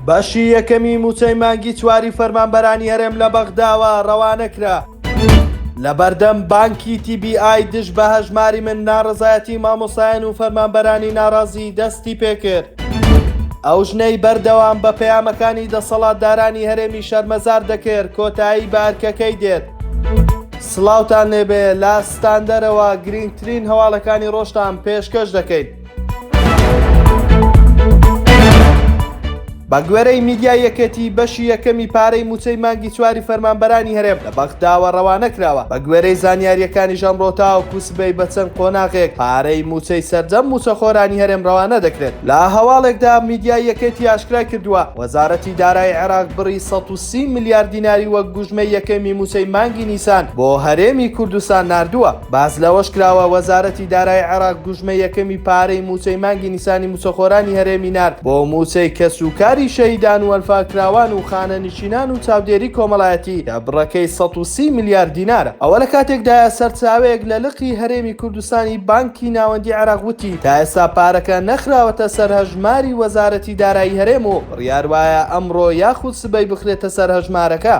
بەشی یەکەمی مووچەی مانگی چواری فەرمانبەرانی هەرێم لە بەغداوە ڕەوانە کرا. لە بەردەم بانکی TBI دژ بە هەژماری من ناڕەزایەتی مامۆستایان و فەرمانبەرانی ناڕازی دەستی پێکرد. ئەو ژنەی بەردەوام بە پەیامەکانی دەسەڵاتدارانی هەرێمی شەرمەزار دەکرد کۆتایی بە ئەرکەکەی دێت. سڵاوتان لێبێ لە ستاندەرەوە گرینگترین هەواڵەکانی ڕۆژتان پێشکەش دەکەین. بەگوێرەی میدیای یەکێتی بەشی یەکەمی پارەی مووچەی مانگی چواری فەرمانبەرانی هەرێم لە بەغداوە ڕەوانە کراوە بەگوێرەی زانیاریەکانیش ئەمڕۆ تاوەکو سبەی بە چەند قۆناغێک پارەی مووچەی سەرجەم مووچەخۆرانی هەرێم ڕەوانە دەکرێت لە هەواڵێکدا میدیای یەکێتی ئاشکرای کردووە وەزارەتی دارای عێراق بڕی 130 ملیار دیناری وەک گوژمەی یەکەمی مووچەی مانگی نیسان بۆ هەرێمی کوردستان ناردووە. باس لەوەشکراوە، وەزارەتی دارایی عێراق گوژمەی یەکەمی پارەی مووچەی مانگی نیسانی مووچەخۆرانی هەرێمی نارد بۆ مووچەی کەسوکاری شەهیدان وەنفاکراوان و خانەنشینان و چاودێری کۆمەڵایەتی کە بڕەکەی سەد و سی ملیار دینارە. ئەوە لەکاتێکدایە، سەرچاوەیەک لە لقی هەرێمی کوردستانی بانکی ناوەندی عێراق وتی، تا ئێستا پارەکە نەخراوەتە سەر هەژماری وەزارەتی دارایی هەرێم و، بڕیار وایە ئەمڕۆ یاخود سبەی بخرێتە سەر هەژمارەکە.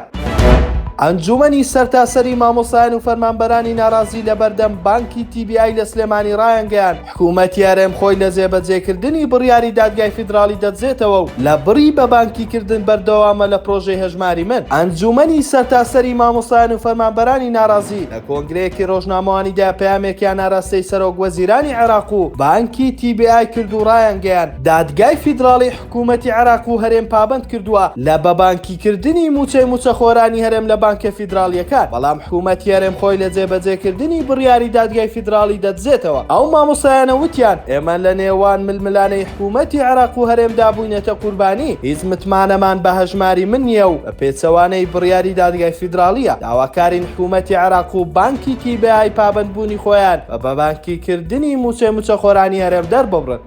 ئەنجوومەنی سەرتاسەری مامۆستایان و فەرمانبەرانی ناڕازی لەبەردەم بانکی تی بی ئای لە سلێمانی ڕایانگەیاند، حکوومەتی هەرێم خۆی لە جێبەجێکردنی بڕیاری دادگای فیدراڵی دەدزێتەوە و لە بڕی بە بانکی کردن بەردەوامە لە پرۆژەی هەژماری من. ئەنجوومەنی سەرتاسەری مامۆستایان و فەرمانبەرانی ناڕازی لە کۆنگرەیەکی ڕۆژنامەوانیدا پەیامێکیان ئاراستەی سەرۆک وەزیرانی عێراق و بانکی تی بی ئای کرد و ڕایانگەیاند، دادگای فیدراڵی حکوومەتی عێراق و هەرێم پابەند کردووە لە بە بانکی کردنی مووچەی مووچەخۆرانی هەرێم لە بانکە فیدراڵییەکان، بەڵام حکوومەتی هەرێم خۆی لە جێبەجێ کردنی بڕیاری دادگای فیدراڵی دەدزێتەوە. ئەو مامۆستایانە وتیان، ئێمە لە نێوان ململانێی حکوومەتی عێراق و هەرێمدا بووینەتە قوربانی، هیچ متمانەمان بە هەژماری من نییە و بە پێچەوانەی بڕیاری دادگای فیدراڵییە، داواکارین حکوومەتی عێراق و بانکی تی بێ ئای پابەند بوونی خۆیان بە بە بانکی کردنی مووچەی مووچەخۆرانی هەرێم دەرببڕن.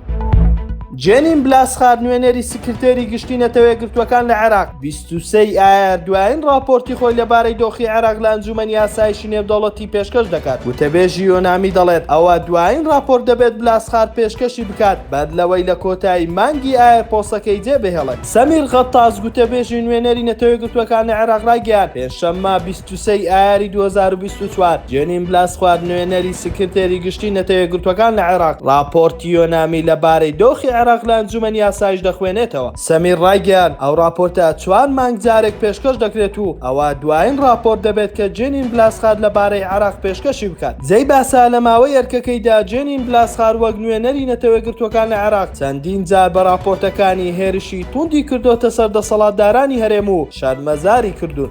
جێنین بلاسخار نوێنەری سکرتێری گشتی نەتەوەیەگرتووەکان لە عێراق 23 ئایار دوایین راپۆرتی خۆی لەبارەی دۆخی عێراق لە ئەنجومەنی ئاسایشی نێودەوڵەتی پێشکەش دەکات وتەبێژی یۆنامی دەڵێت ئەوە دوایین راپۆرت دەبێت بلاسخار پێشکەشی بکات بەر لەوەی لە کۆتایی مانگی ئایار پۆسەکەی جێبهێڵێت سەمیر غەتاس گوتەبێژی نوێنەری نەتەوەیەگرتووەکان لە عێراق رایگەیاند پێنجشەممە چوسەی ئایاری دوو هەزار و بیست و چوار، جێنین بلاسخوار، نوێنەری سکرتێری گشتی نەتە یەکگرتووەکان لە عێراق، ڕاپۆرتی یۆنامی لە بارەی دۆخی عێراق لە ئەنجومەنی ئاسایش دەخوێنێتەوە. سەمیر ڕایگەیاند، ئەو ڕاپۆرتە چوار مانگ جارێک پێشکەش دەکرێت و ئەوە دوایین ڕاپۆرت دەبێت کە جێنین بلاسخار لە بارەی عێراق پێشکەشی بکات. جێی باسە، لە ماوەی ئەرکەکەیدا جێنین بلاسخار وەک نوێنەری نەتەوەیەکگرتووەکان لە عێراق چەندین جار بە ڕاپۆرتەکانی هێرشی توندی کردۆتە سەر دەسەڵاتدارانی هەرێم و شەرمەزاری کردوون.